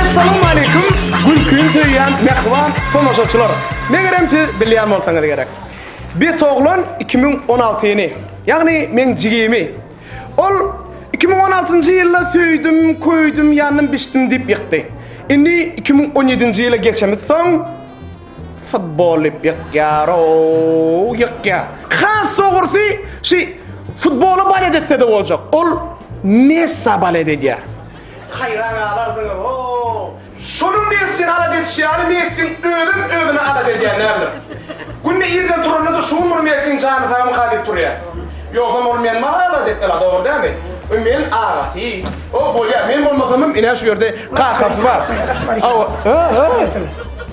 Essalam Aleýkum gülkini söýýän mähriban tomaşaçylar! Megerem siz bilýän bolsaňyz gerek. Betoglan iki müň on alty ýyny, ýagny meň jigimi, ol iki müň on altynjy ýylda söýdüm, köýdüm, ýandym, biçdim diýip ýykdy. Indi iki müň on ýedinji ýyla geçemizsoň, Futbol dip ýykýar-ow, ýykýar. Has dogrusy, şi futbola balet etsede boljak. Ol Messa balet edýär. Haýran galardyňyz-ow. Şonuň Messini alada edişi ýaly Messiň özem özüni alada edýär näbilim. Günde irden turanda-da şugun bir Messiň jany sagmyka diýip turýar. Ýogsam ol meni maňa alada etmela, dogry dälmi? Wi men agasy. O bolýar, men bolmasamam ine şu ýerde kakasy bar. Hawa, ha-ha.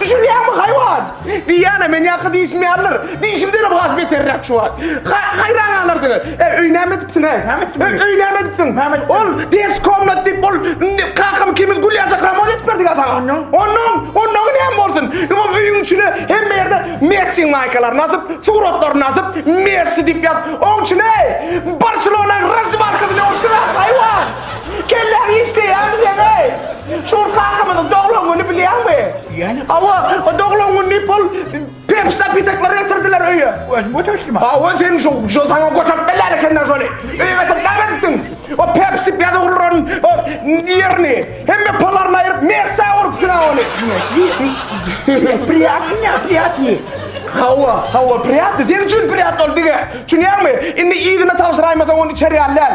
Düşünýäňmi, haýwan? Diýýän-ä, men ýaky dişim ýalydyr. Dişimdenem has beterräk şu wagt. Haýran galarsyňyz. Äý, öýi näme edipsiň-ä? Näme etdim öýi? Öýi näme edipsiň? Näme etdim? Ol des komnat diýip, ol kakam ikimiz gülýänçäk ramont edip berdik-ä saňa. Onnoň? Onnoň, onnoňy näme bolsun? Ýa öýüň içine hemme ýerde Messiň maýkalaryny asyp, suratlaryny asyp, Messi diýip ýazyp, oň içine Barselona razwalka bilen ursuň-a, haýwan! Kelläňi işleýärmi seň eý? Şur kakamyzyň doglan güni bilýäňmi? Bilýänem. Hawa, o doglan gün diýip ol Pepsi napitaklar getirdiler öýe. Özüm götertdim. Hawa, sen şu şu saňa göterip berýän ekenden şony. Öýe getirip näme etdiň? O Pepsi ýazuwlaryň o ýerini, hemme palaryny aýryp messä urupsyň-a ony. Messy? Priýatnyňa priýatny. Hawa, hawa, priýatny. Seň üçin priýatny ol dige. Çünýäňmi? Indi yzyna tabşyraýmasaň ony içer ýaly däl.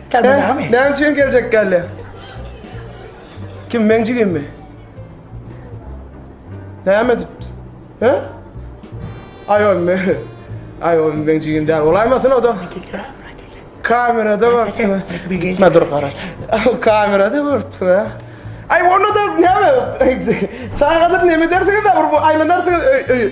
Käbirnami. Näme üçin geljek geldi? Kim meň jigimmi? Näme edip? He? Ay oy me. Ay oy meň jigim däl. Olaýmasyn o da. Kamerada görüpsün. Gitme dur garat. Kamerada görüpsün ha. Ay onu da näme? Çagadyr näme dersiňiz de bir aylanarsyňyz öy öy.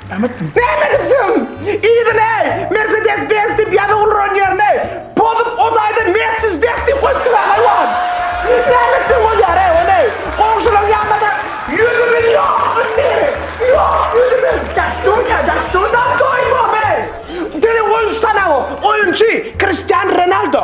Bäbegi söň! Yzyleý! Mersedes Benz diýip ýazyp ulran ýerini pozup o taýda Mersiz des diýip goýupdyr-a haýwan! Näme etseň bolýar-eý ony goňşulaň ýanynada ýüzümiz ýok indi! Ýok ýüzümiz! Dastunya, dastun, dastoý bom-eý! Teleoýunçy tanap o, oýunçy Kristian Renaldo.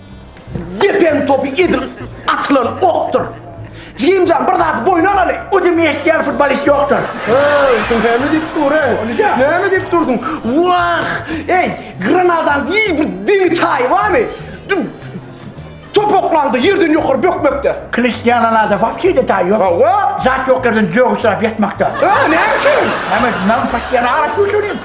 Depäň topy edil atylan okdur. Jigimjan bir zat boýun alaly. O demi etýän futbolist ýokdur. Hey, sen näme diýip dur, ey? Onýa. Näme diýip durdyň? Wah! Ey, Granadaň giň bir deňi çaýy barmy? Dü- Topaklaňda ýerden ýokary bökmekde. Kristiananada bar şeýle taý ýok. Hawa. Zat ýok ýerden jögüsläp ýatmakda. Hä, näme üçin? Näme, men patyýan araç göçürýin.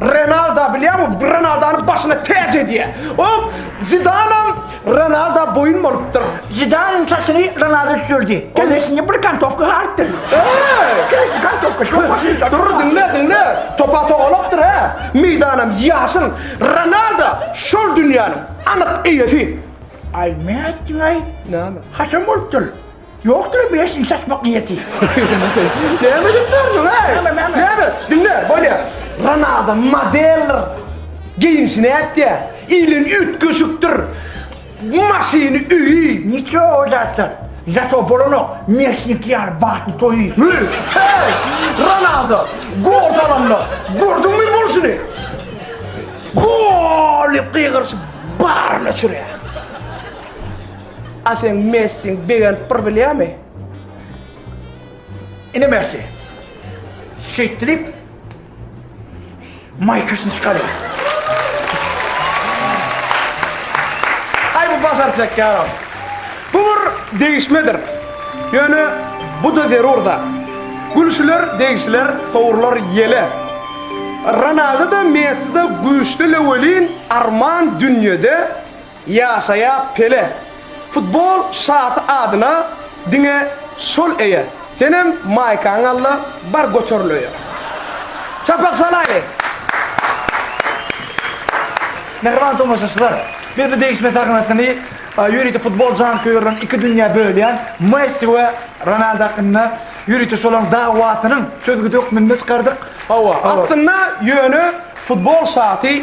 Renalda bilýäňmi, Renaldany başyna täç edýär. Ol Zidanam Renalda boýun bolupdyr. Zidanyň saçyny Renalda düzeldi. Kellesinde bir kantowka galypdyr. Kellesi kantowka şol başyny. Dur, diňle, diňle. Topa togalakdyr hä. Meýdanam ýaşyl. Renalda şol dünýäniň anyk eýesi. Aý, nätdiňaý? Näme? Haçan bolupdyr? Ýokdur-a bu ýaş işe açmak niýeti. Näme edip dursuň, heý? Näme, näme? Näme? Diňle, bolýa. Renada modeldir. Geýnişi nätdi-ä? Ilen üýtgeşikdir. Maşyny, öýi. Niço o zatlar. Zato bolanok, Mesnikli ýaly bagtly toýy. Hü, heý! Renada, gol salanda, gördüňmi bolşuny? Gol! diýip gygyryşyp, baryny çürýär. A seň Messiň begenip bir bilýärmi? Ine Messi. Şeýtdi diýip, maýkasyny çykarýar. Aý bu bazar çekýär. Bu bir degişmedir. Ýöne bu-da zerur-da. Gülşüler, degişiler, sowrular ýele. Ronaldo-da, Messi-de güýçlile welin, arman dünýede Ýaşaýa Pele! Futbol şasy adyna diňe şol eýe. Senem maýkaňy al-da bar göteril öýe. Çapak çalaýly! Mähriban tomaşaçylar! Biz bu degişme sahnasyny ýörite futbol janköýerlerini iki dünýä bölýän Messi we Ronaldo hakynda ýörite şolaryň dawasynyň çözgüdi hökmünde çykardyk. Hawa, aslynda ýöne futbol şasy